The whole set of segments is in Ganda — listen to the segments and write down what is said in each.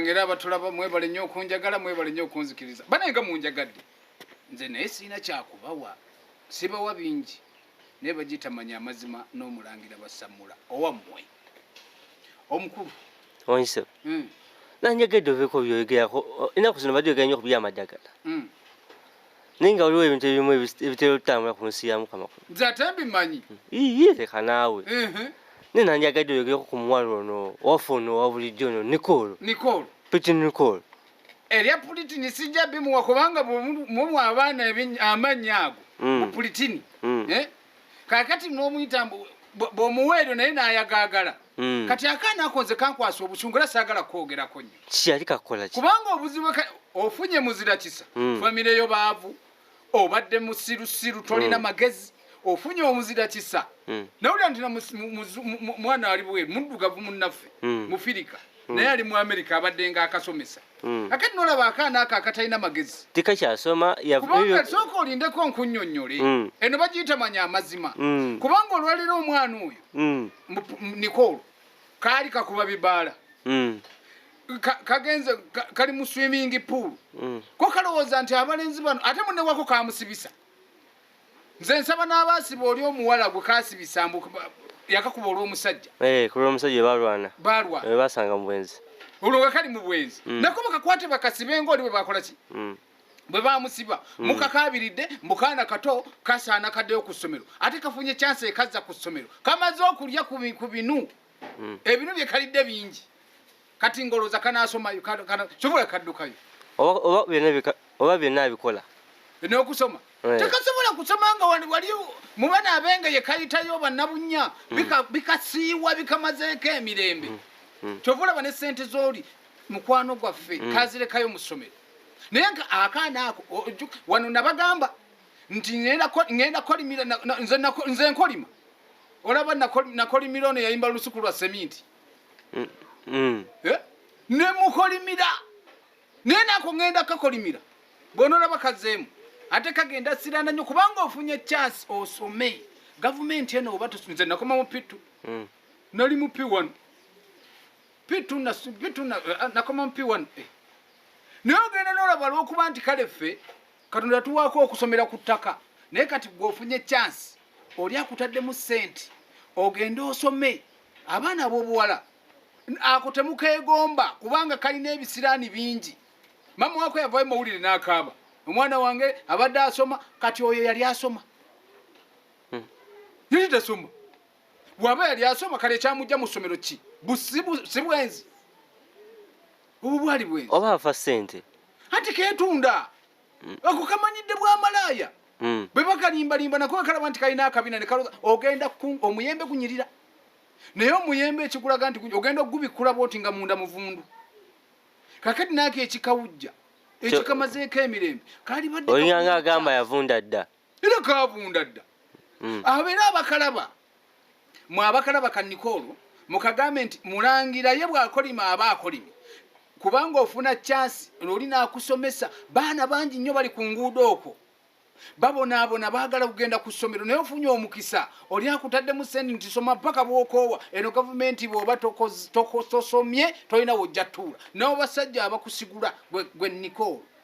ngera abatulaba mwebale nnyo okunjagala mwebale nnyo okunzikiriza banaye nga munjagadde nze naye sirina kyakubawa sibawa bingi naye bagitamanya amazima n'omulangira basamula owammwe omukulu onse hmm. nanjagedde oveeko byoyogerako enaku zino bajogeranyoko byamadagala hmm. naye nga waliwo ebintu ebimu ebitera okutambula ku nsi ya mukama kuno nze ate mbimanyi iye leka naawe naye nandyagadde oyogereko ku muwala ono waffe ono owa bulijjo ono nicole nicole pitin nicole erya pulitini sijja bimuwa kubanga mumwa abaana amannya ago mm. mu pulitini mm. eh? kakati nomuyita mbu bwomuwa eryo naye nayagaagala hmm. kati akaana akonze kankwasa obusungu era saagala kukwogerako nyo kiyali kakolaki kubanga obuzibu ofunye muzira kisa hmm. famire yo baavu obadde musirusiru tolina hmm. magezi ofunye omuzira kisa nawulira nti mwana ali bweru muddugavu munnaffe mufirika Hmm. naye ali mu amerika abadde nga akasomesa hmm. akati nolaba akaana ako akatalina magezi tikakyasoma kubanga sooka olindeko nkunyonyole hmm. eno bagiyita manya amazima kubanga olwaliro omwana oyo nikolo kaali kakuba bibaala kagenze kali mu swimming pool ko kalowooza nti abalenzi bano ate munewako kamusibisa nze nsaba n'abaasiba oli omuwala gwe kaasibisa mbu yakakuba olw'omusajja eh, ku lw'omusajja balwana balwa eh, basanga mu bwenzi olwo we kali mu bwenzi mm. nako bakakwate bakasibe ng'oli bwe bakola ki mm. bwe bamusiba mm. mukakaabiridde mukaana kato kasaana kaddeyo ku ssomero ate kafunye kyansi ekazza ku ssomero kamaze okulya ku binu ebinu bye kalidde bingi kati ngoloza kanasomayo sobola kaddukayo oba byonna abikola nokusoma eh. tekasobola kusoma nga wali mubana abenge yekayitayo banabunya hmm. bikasiiwa bikamazeeko emirembe hmm. hmm. kyova olaba ne sente zoli mukwano gwaffe kazirekayo musomero naye nga akaana ako wano nabagamba nti ngenda kolimira nze nkolima olaba nakolimira ono yayimba lusuku lwa seminti mm, mm. Eh? nemukolimira naye nako ngenda kakolimira bwonoraba kazeemu ate kagenda sirana nyo kubanga ofunye chance osome gavumenti eno oba tusinze nakoma mu pitu mm. nali mu p1 pitu eh, nakoma mu p1 eh. naye ogenda nolaba lwokuba nti kale ffe katonda tuwaako okusomera ku ttaka naye kati gweofunye chance oli akutaddemu sente ogende osome abaana abobuwala ako temukegomba kubanga kalina ebisiraani bingi mama wako yavayo mawulire nakaaba omwana wange abadde asoma kati oyo yali asoma hmm. yali tasoma bwaba yali asoma kale ekyamujja mu ssomero ki si bwenzi obu bwali bwenzi oba afa sente anti ketunda mm. ako kamanyidde bwa malaaya mm. bwe bakalimbalimba nako wekalaba nti kalina akabina ne kaloza ogenda omuyembe gunyirira naye omuyembe ekikulaga nti ogenda okugubikkula bwoti nga munda muvundu kakati naako ekikawujja ekikamazeeko emirembe kalibadde olinga nga agamba yavunda dda era kavunda dda mm. abeera abakalaba mwe abakalaba kanikoolo mukagambe nti mulangira ye bwakolima aba akolimi kubanga ofuna kyansi lwoli nakusomesa baana bangi nnyo bali ku nguudo okwo babonaabona baagala kugenda ku ssomero naye ofunye omukisa oli akutaddemu sendi nti soma mpaka bwokoowa eno gavumenti bwoba tosomye tolina wojja tuula nawo basajja abakusigula gwe nikoolo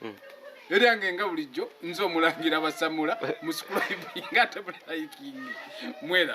hmm. eryange nga bulijjo nze omulangira basamula musukulaibinga ate mulayikingi mwelaba